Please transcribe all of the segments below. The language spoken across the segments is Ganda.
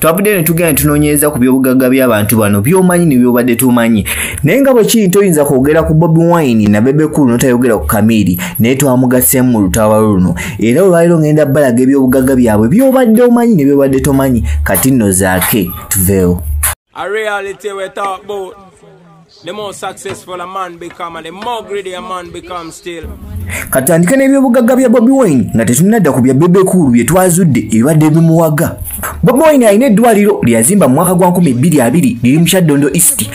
twavuddeyo ne tugenda tunoonyereza ku byobugagga by'abantu bano by'omanyi ne byobadde tumanyi naye nga bwe kiri toyinza kwogera ku bobi wine na bebekulu notayogera ku kamiiri naye twamugaseemu mu lutaba luno era olwaliro ngenda balaga ebyobugagga byabwe byobadde omanyi ne byobadde tomanyi kati nno zaake tuveewo A reality we talk about. The more successful a man become and the more greedy a man become still. Katandika n'ebyobugagga bya Bobi Wine nga tetunnadda ku bya Bebe Cool bye twazudde ebibadde bimuwaga. Bobi Wine alina eddwaliro lyeyazimba mu mwaka gwa nkumi bbiri abiri liri mu Kyaddondo East.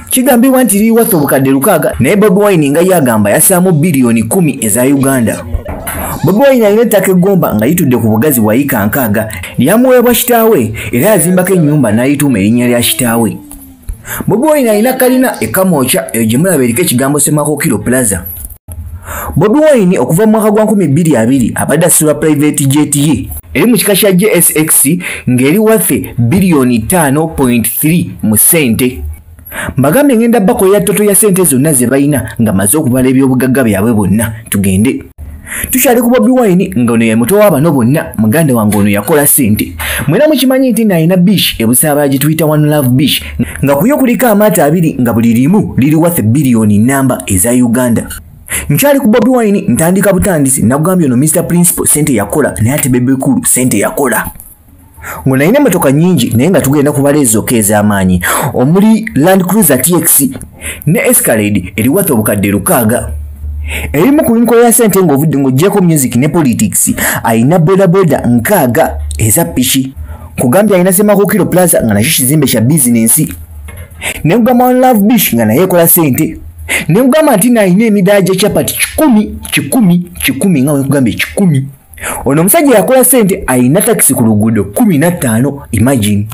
Kigambibwa nti liri watho obukadde lukaaga naye Bobi Wine nga ye agamba yasaamu biliyoni kumi eza Uganda. Bobi Wine alina ettaka eggomba nga litudde ku bugazi bwa yika nkaaga Yamuweebwa kitaawe era yazimbako ennyumba n'ayituuma erinnya lya kitaawe. Bobi Wine alina kalina e Kamwokya eyo gye mulaba eriko ekigambo Ssemakokiro Plaza. Bobi Wine okuva mu mwaka gwa 2022 abadde asula private jet ye eri mu kika kya JSX ng'eri wafe biliyoni 5.3 mu ssente. mbagambye ngenda bakolera toto ya sente zonna ze balina nga maze okubala ebyobugagga byabwe bonna tugende tukyali ku bobi wine nga ono yemuto wabano bonna muganda wange ono yakola sente mwena mukimanyi nti nalina bish ebusaaba gituyita one love bish nga kuyo kuliko amaato abiri nga buli limu liri wathe biliyoni namba eza uganda nkyali ku bobi wine ntandika butandisi nagambye ono mr principal sente yakola naye ate bebekulu sente yakola ngo nalina emmotoka nyingi naye nga tugenda kubala ezokka ez'amaanyi omuli land cruiser tx ne escalade eriwata obukadde lukaaga erimu ku nkola ya sente ng'ovudde ng'ogyeko music ne politics alina bodaboda nkaaga eza piki kugambye alina semakukiro plaza nga nakyo kizimbe kya bizinensi ne kugamba one love bish nga naye ekola sente ne kugamba nti nalina emidaala gya chapati kikumi kikumi kikumi nga wekugambye kikumi ono omusajja yakola sente alina takisi ku luguudo kumi na ttaano imagine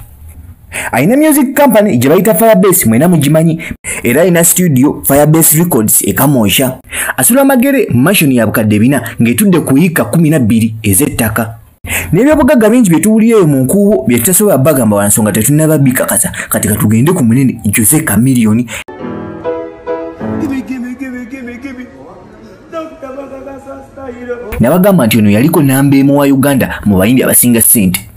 alina music company gye bayita firebase mwena mugimanyi era alina studio firebase records ekamoosha asula amagere mu mashoni ya bukadde bina ng'etudde ku yiika kumi na bbiri ez'ettaka n'ebyobugagga bingi bye tuwulira eyo mu nkuubo bye tutasobola bagamba wa nsonga tetunaba bikakasa kati katugende ku munene jose kamiliyoni nabagamba nti ono yaliko namba emu wa uganda mu bayimbi abasinga ssente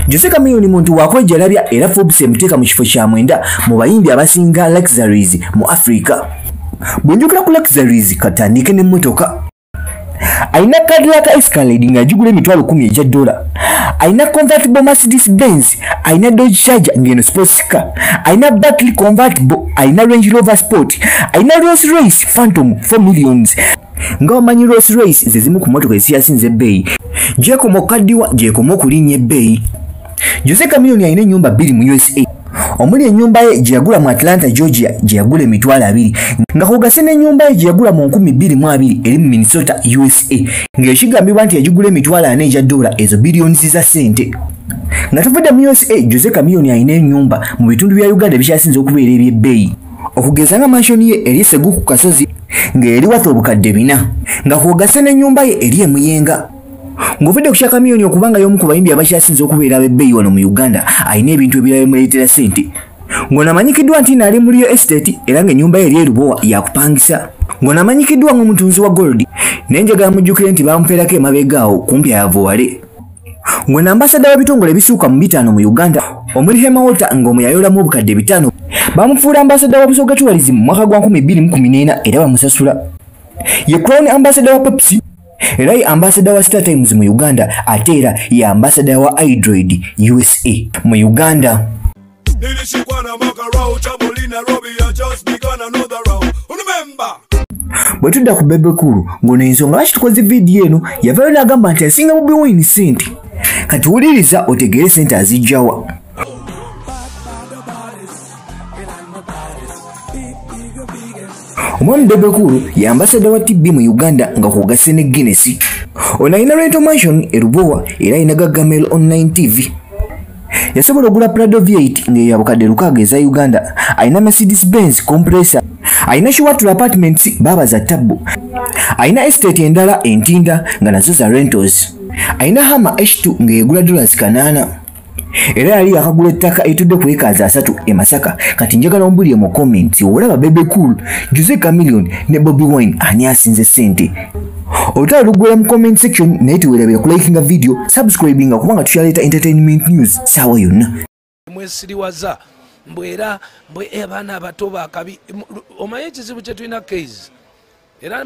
jose kamiyoni muntu wakwejalabya era forbes emuteeka mu kifo kya mwenda mu bayimbi abasinga luxuries mu africa bwenjogera ku luxuries katandike n'emmotoka alina kaadi yaka escalade ng'agigula emitwalo kumi egya dola alina convertible mercedes benz alina dodge charger ngeno sports car alina battery convertible alina range rover sport alina rolls royce phantom 4 millions nga wamanyi rolls royce zezimu ku motoka eziyasinze ebbeeyi gyekoma okukaddiwa gyekoma okulinnya ebbeeyi jose camilion alina ennyumba bbiri mu usa omuli ennyumba ye gye yagula mu atlanta georgia gye yagula emitwalo abiri nga kugase n'ennyumba ye gye yagula mu nkumi bbiri mu abiri eri mu minnesota usa ng'ekigambibwa nti yagigula emitwalo ana egya doola ezo biliyonizi za ssente nga tuvudde mu usa jose kamiyoni alina enyumba mu bitundu bya uganda ebikyasinze okubeera ebyebbeeyi okugeza nga manshoni ye eri segu ku kasozi ng'eri watha obukadde bina nga kwogase n'ennyumba ye eri emuyenga ng'ovudde ku kya kamiyoni okubanga y'omu ku bayimbi abakyasinze okubeera abebbeeyi wano mu uganda alina ebintu ebirala bimuleetera sente ng'onamanyikiddwa nti naali mu liyo estate era ng'ennyumba ye eri erubowa yakupangisa ng'onamanyikiddwa ng'omutunzi wa golodi naye njagala mujjukire nti bamufeerako emabegaawo kumpi ayavuwale Ngwe na ambasada w'ebitongole ebisuuka mu bitaano mu Uganda omuli Hema Water ng'omu yayolamu obukadde bitaano bamufuula ambasada wa Busoga Tourism mu mwaka gwa 2014 era bamusasula. Ye Crown ambasada wa Pepsi era ye ambasada wa Star Times mu Uganda ate era ye ambasada wa Hydroid USA mu Uganda. nilishikwa na makarau chaboli nairobi ya just begun another round remember bwe tudda ku bebe kulu ng'ono ensonga lwaki tukoze vidiyo eno yavayo n'agamba nti asinga bobi wine sente kati wuliriza otegeere sente azijjawa omwami bebekulu ye ambasada wa tb mu uganda nga kwogasse ne guinness ono alina rental mansion e lubowa era alina gagamel online tv yasobola ogula prado v8 nga eyabukadde lukaaga eza uganda alina mercedes benz compressor alina shiwatula apartments baaba za tabbu alina estate endala entinda nga nazo za rentals alina hama h2 ng'egula dollars kanaana era yali yakagula ettaka etudde ku ekaazi asatu e masaka kati njagala ombulire mu comments olaba bebe cool jose camilion ne bobi wine ani asinze ssente olutalo luggwera mu comment section naye tewerabira kulikinga video subscribinga kubanga tukyaleeta entertainment news saawa yonna mwesiriwaza mbu era mbu abaana eh, abato bakabi omanyi ekizibu kyetulina kase era